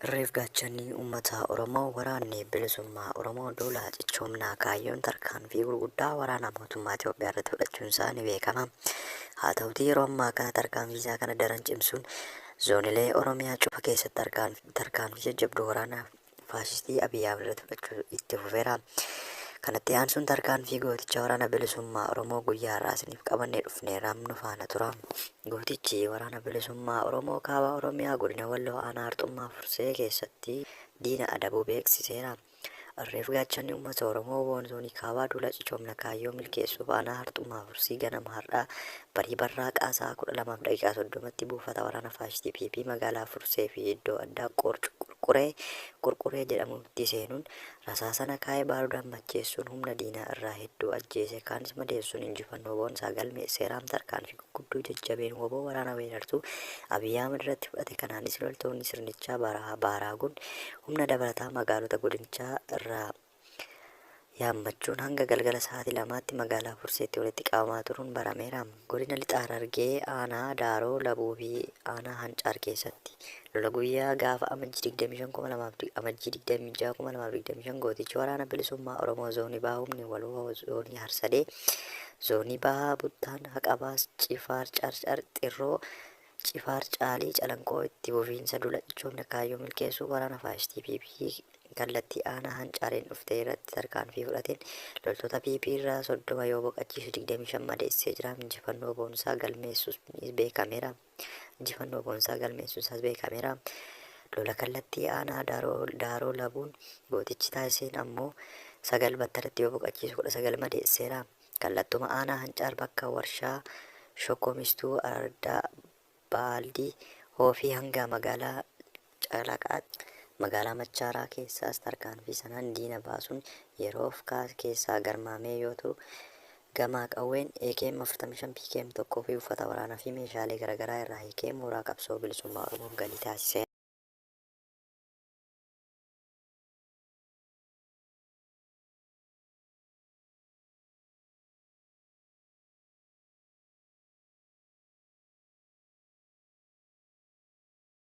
Irreef gaachanni ummata Oromoo waraanni bilisummaa Oromoo duula cichoomnaa kaayyoon tarkaanfii gurguddaa waraanaa mootummaa Itoophiyaa irratti fudhachuun isaa ni beekama. Haa ta'utii yeroo ammaa kana tarkaanfii isaa kana daran cimsuun zoonilee Oromiyaa cufa keessatti tarkaanf- tarkaanfii jajjabduu waraanaa faashistii Abiy Ahmed irratti fudhachuu itti fufeera. Kanatti aansuun tarkaanfii gooticha waraana bilisummaa Oromoo guyyaa har'aa isiniif qabannee dhufneera nu faana tura. Gootichi Waraana Bilisummaa Oromoo Kaaba Oromiyaa Godina Walloo Aanaa Harxummaa Fursee keessatti diina adabuu beeksiseera. Irreef gaachanni uummata Oromoo wbon Zoonii Kaabaa duula cichoomna kaayyoo milkeessuuf Aanaa Harxummaa Fursii ganama har'aa barii barraaqaa sa'a 12:30tti buufata waraana faashistii PP magaalaa Fursee fi iddoo addaa Qoorc Qurquree, Qurquree, jedhamutti seenuun rasaasa nakaa'ee baaruudaan macheessuun humna diinaa irraa hedduu ajjeesee kaanis madeessuun injifannoo boonsaa galmeesseera. Tarkaanfii guddoo jajjabeen wbo waraana weerartuu Abiy Ahmad irratti fudhate kanaanis loltoonni sirnichaa Barahaa Baaraaguun humna dabalataa magaalota godinichaa irraa yaammachuun hanga galgala sa'aatii lamaatti magaalaa Furseetti walitti qabamaa turuun barameera. Godina Lixa Harargee aanaa Daaroo Labuu fi aanaa Hancaar keessatti Lola guyyaa gaafa Amajjii 25, 2000 Amajjii 26, 2025 Gootichi Waraana Bilisummaa Oromoo Zoonii Bahaa Humni Waloo Zoonii Harsadee Zoonii Bahaa Buttaan Haqabaas Cifaar Carcar Xirroo Cifaar Caalii Calanqoo Itti Fufiinsa Dula Cichoomina Kaayyoo Milkeessuu Waraana Faashistii PP kallattii aanaa Hancaareen dhuftee irratti tarkaanfii fudhateen loltoota PP irraa 30 yoo boqachiisu 25 madeessee jira. Injifannoo boonsaa galmeessuus beekameera. injifannoo boonsaa galmeessuusaas beekameera. Lola kallattii aanaa Daaroo Labuun gootichi taasiseen ammoo 9 battalatti yoo boqachiisu 19 madeesseera. Kallattuma aanaa Hancaar bakka warshaa Shokkomistuu Ardaa Baaldii Hoofii hanga magaalaa Caalaa Qaaxxee, Magaalaa Machaaraa keessaas tarkaanfii sanaan diina baasuun yeroof kaas keessaa garmaamee yoo turu, gamaa qawween akm 45 PKM 1 fi uffata waraanaa fi meeshaalee garagaraa irraa hiikee mooraa qabsoo bilisummaa Oromoof galii taasiseera.